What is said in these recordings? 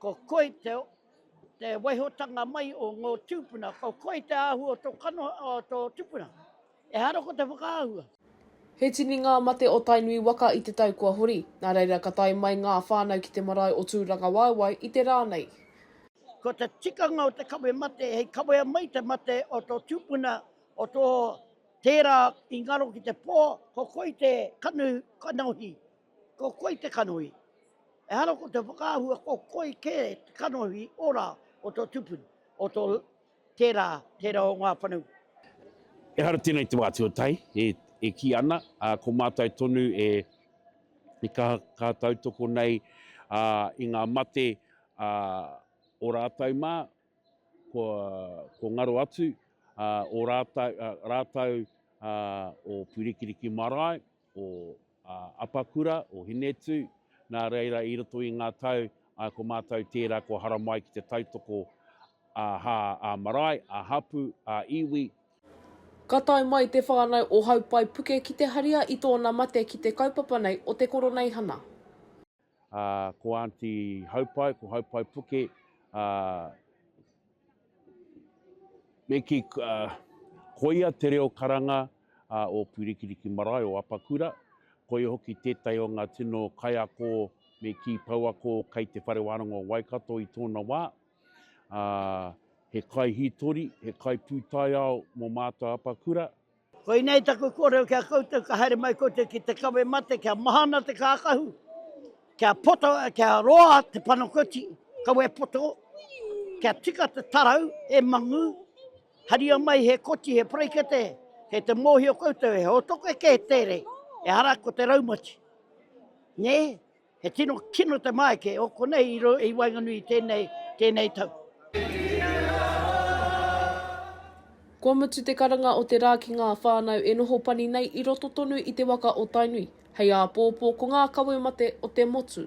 Ko koe te te waihotanga mai o ngō tūpuna, ko koe te āhua o tō kanohi, o tō tupuna. Ehara ko te whakaahua. He tini ngā mate o Tainui waka i te tau kua hori, nā reira ka tae mai ngā whānau ki te marae o Tūrangawaewae i te rā nei. Ko te tikanga o te kawe mate hei kawea mai te mate o tō tūpuna, o tō tērā i ngaro ki te pō, ko koe te kanohi. Ko koi te kanohi. Ehara ko te whakaahua ko koi kē te kanohi ora o tō tupuni, o tō tērā, tērā o ngā whanau. Ehara tēnei i te wā tuatahi e, e kī ana, ā, ko mātou tonu e, e kaha, kaha tautoko nei, ā, i ngā mate, ā, o rātou mā, kua, kua ngaro atu, ā, o rātou, ā, rātou, ā, o Purikiriki marae, o Apakura, o Hinetū, nā reira i roto i ngā tau ā ko mātou tērā kua haramai ki te tautoko ā hā, ā marae, ā hapū, ā iwi. Ka tae mai te whānau o Haupai Puke ki te haria i tōna mate ki te kaupapa nei o te koroneihana. ā, ko Aunty Haupai, ko Haupai Puke, ā, me kī, ā, koia te reo karanga, ā, o Pūrikiriki Marae, o Apakura, koia hoki tētahi o ngā tino kaiako me kī pouako kei Te Whare Wānanga o Waikato i tōna wā, ā, he kaihītori, he kaipūtaiao mō mātou Apakura, Koinei taku kōrero ki a koutou, ka haere mai koutou ki te kawe mate, kia maha ana te kākahu, kia poto, kia roa te panakoti, kawe poto, kia tika te tarau, e mangu, haria mai he koti, he parekete, kei te mōhio koutou, he hotoke kē tērei, ehara ko te raumati. Nē? He tino kino te maike o konei i, i waenganui i tēnei, tēnei tau. Kua mutu te karanga o te rā ki ngā whānau e noho pani nei i roto tonu i te waka o Tainui, hei āpōpō ko ngā kawe mate o te motu.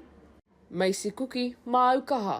Macy Kuki, Māu kaha.